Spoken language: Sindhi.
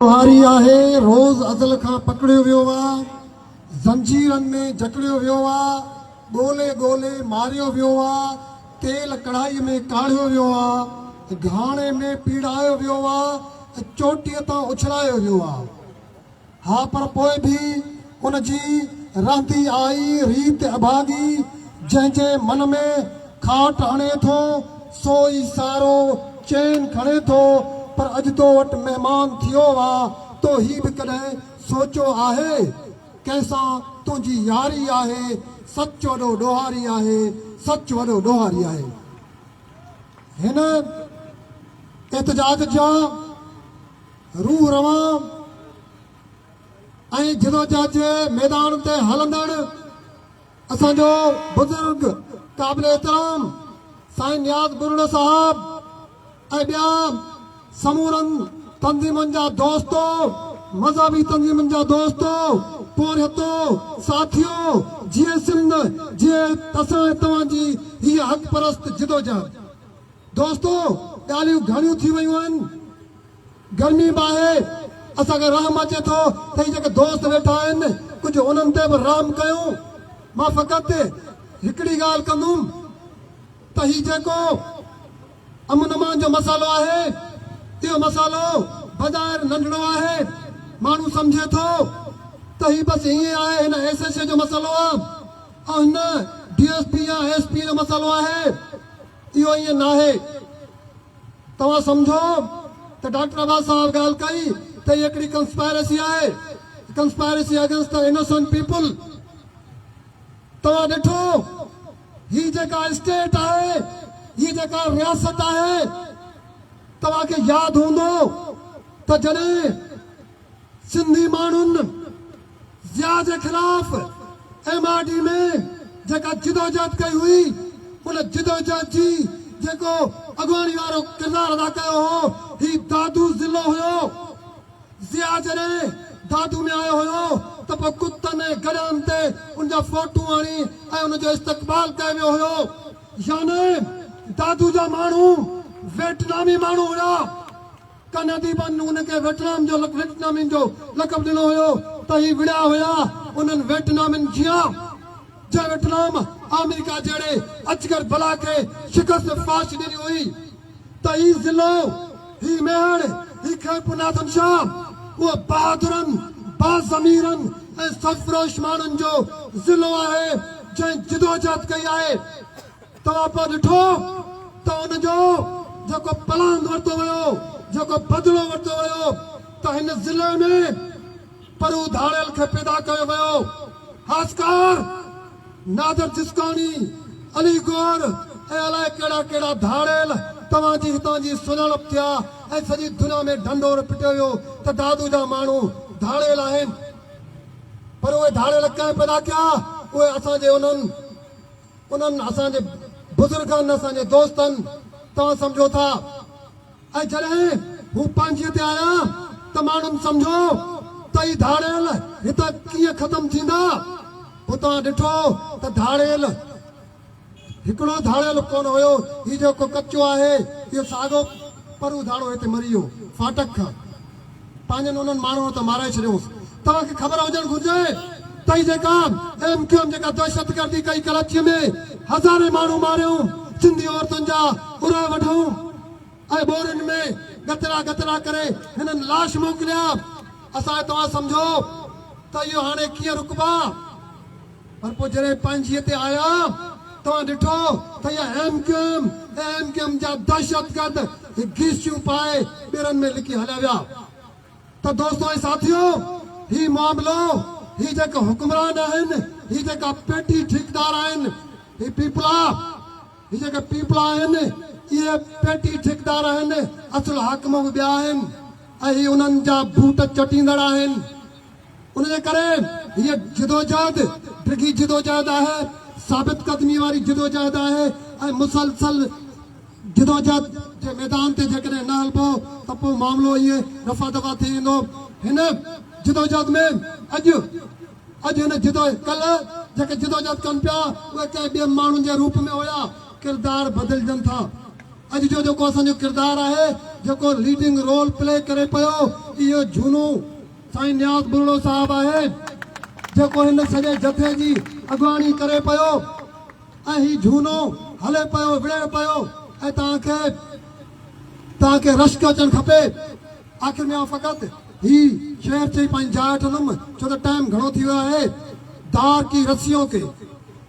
ڏوهاري آهي، روز ازل کان پڪڙيو ويو آ، زنجيرن ۾ جڪڙيو ويو آ، ڳولي ڳولي ماريو ويو آ، تيل ڪڙهائي ۾ ڪاڙهيو ويو آ، گهاڻي ۾ پيڙايو ويو آ، چوٽيء تان اڇلايو ويو آ. ها پر پوء به. ان جي رهندي آئي ريت اڀاڳي، جنهن جي من ۾ کاٽ هڻي ٿو، سو ئي سارو چين کڻي ٿو، پر اڄ تو وٽ مهمان ٿيو وا، تو هي به ڪڏهن سوچيو آهي؟ ڪنهن سان تنهنجي ياري آهي، سچ وڏو ڏوهاري آهي، سچ وڏو ڏوهاري آهي. هن احتجاج جا روح روان. ۽ جدوجهد جي ميدان تي هلندڙ اسان جو بزرگ قابل احترام سائين نياز ٻرڙو صاحب ۽ ٻيا سمورن تنظيمن جا دوستو، مذهبي تنظيمن جا دوستو، پورهيتو، ساٿيو، جيئي سنڌ، جيئي اسان ۽ توهان جي هيء حق پرست جدوجهد. دوستو ڳالهيون گهڻيون ٿي ويون آهن. گرمي به آهي، اسان کي رحم اچي ٿو ته هي جيڪي دوست ويٺا آهن، ڪجهه انهن تي به رحم ڪيون. مان فقط هڪڙي ڳالهه ڪندم ته هي جيڪو امن امان جو مسئلو آهي، اهو مسئلو بظاهر ننڍڙو آهي، ماڻهو سمجهي ٿو ته هي بس ائين آهي، هن ايس ايڇ اي جو مسئلو آهي ۽ هن ڊي ايس پي يا ايس پي جو مسئلو آهي. اهو ائين ناهي. توهان سمجهو ته ڊاڪٽر عباس صاحب ڳالهه ڪئي ته هي هڪڙي ڪنسپائرسي آهي، conspiracy against the innocent people. توهان ڏٺو هي جيڪا اسٽيٽ آهي، هي جيڪا رياست آهي، توهان کي ياد هوندو ته جڏهن. سنڌي ماڻهن ضياء جي خلاف ايم آر ڊي ۾ جيڪا جدوجهد ڪئي هئي ان جدوجهد جي جيڪو اڳواڻي وارو ڪردار ادا ڪيو هو هي دادو ضلعو هيو. ضياء جڏهن دادو ۾ آيو هيو ته پوء ڪتن ۽ گڏهن تي ان جا فوٽو آڻي ۽ ان جو استقبال ڪيو ويو هيو. يعني دادو جا ماڻهو ويٽنامي ماڻهو هيا. ڪن اديبن هن کي ويٽنام جو Vietnamese جو لقب ڏنو هيو ته هي وڙهيا هيا انهن ويٽنامين جيان، جنهن ويٽنام آمريڪا جهڙي اجگر بلا کي شڪست فاش ڏني هئي ته هي ضلعو، هي ميهڙ، هي خيرپور ناٿن شاهه، اهو بهادرن، باضميرن ۽ سرفروش ماڻهن جو ضلعو آهي، جنهن جدوجهد ڪئي آهي. توهان پوء ڏٺو ته ان جو جيڪو پلاند ورتو ويو، جيڪو بدلو ورتو ويو ته هن ضلعي ۾ پرو ڌاڙيل کي پيدا ڪيو ويو. هاسڪار، نادر جسڪاڻي، علي گور ۽ الائي ڪهڙا ڪهڙا ڌاڙيل توهان جي هتان جي سڃاڻپ ٿيا ۽ سڄي دنيا ۾ ڍنڍور پٽيو ويو ته دادو جا ماڻهو ڌاڙيل آهن پر اهي ڌاڙيل ڪنهن پيدا ڪيا؟ اهي اسان جي انهن انهن اسان جي بزرگن، اسان جي دوستن، توهان سمجهو ٿا ۽ جڏهن هو پنهنجيء تي آيا ته ماڻهن سمجهو ته هي ڌاڙيل هتان ڪيئن ختم ٿيندا؟ پوء توهان ڏٺو ته ڌاڙيل هڪڙو ڌاڙيل ڪونه هيو، هي جيڪو ڪچو آهي اهو ساڳو پر اڌاڙو هتي مري ويو، ڦاٽڪ کان. پنهنجن انهن ماڻهن ته مارائي ڇڏيوس. توهان کي خبر هجڻ گهرجي ته هي جيڪا ايم ڪيو ايم جيڪا دهشت گردي ڪئي ڪراچيء ۾ هزارين ماڻهو ماريائون سنڌي عورتن جا ارهه وڍائون ۽ ٻورين ۾ ڳتڙا ڳتڙا ڪري هنن لاش موڪليا اسان توهان سمجهو ته اهو هاڻي ڪيئن رڪبا. پر پوء جڏهن پنهنجيء تي آيا توهان ڏٺو ته اها M Q M ۽ M Q M جا دهشتگرد هي گيسيون پائي ٻيڙن ۾ لڪي هليا ويا ته دوستو ۽ ساٿيو هي معاملو هي جيڪا حڪمران آهن هي جيڪا پيٽي ٺيڪدار آهن هي پيپلا هي جيڪا پيپلا آهن اهي پيٽي ٺيڪدار آهن اصل حاڪم به ٻيا آهن ۽ هي انهن جا بوٽ چٽيندڙ آهن. ان جي ڪري هيء جدوجهد ڊگهي جدوجهد آهي، ثابت قدمي واري جدوجهد آهي ۽ مسلسل جدوجهد جي ميدان تي جيڪڏهن نه هلبو ته پوء معاملو ائين رفع دفع ٿي ويندو. هن جدوجهد ۾ اڄ اڄ هن جدو ڪلهه جيڪي جدوجهد ڪن پيا اهي ڪنهن ٻئي ماڻهن جي روپ ۾ هيا. ڪردار بدلجن ٿا. اڄ جو جيڪو اسان جو ڪردار آهي، جيڪو ليڊنگ رول پلي ڪري پيو اهو جهونو، سائين نياز ٻرڙو صاحب آهي جيڪو هن سڄي جٿي جي اڳواڻي ڪري پيو ۽ هي جهونو هلي پيو وڙهي پيو ۽ توهان کي توهان کي رشڪ اچڻ کپي آخر ۾ آئون فقط هي شعر چئي پنهنجي جاء وٺندم ڇو ته ٽائيم گهڻو ٿي ويو آهي دار ڪي رسيون ڪي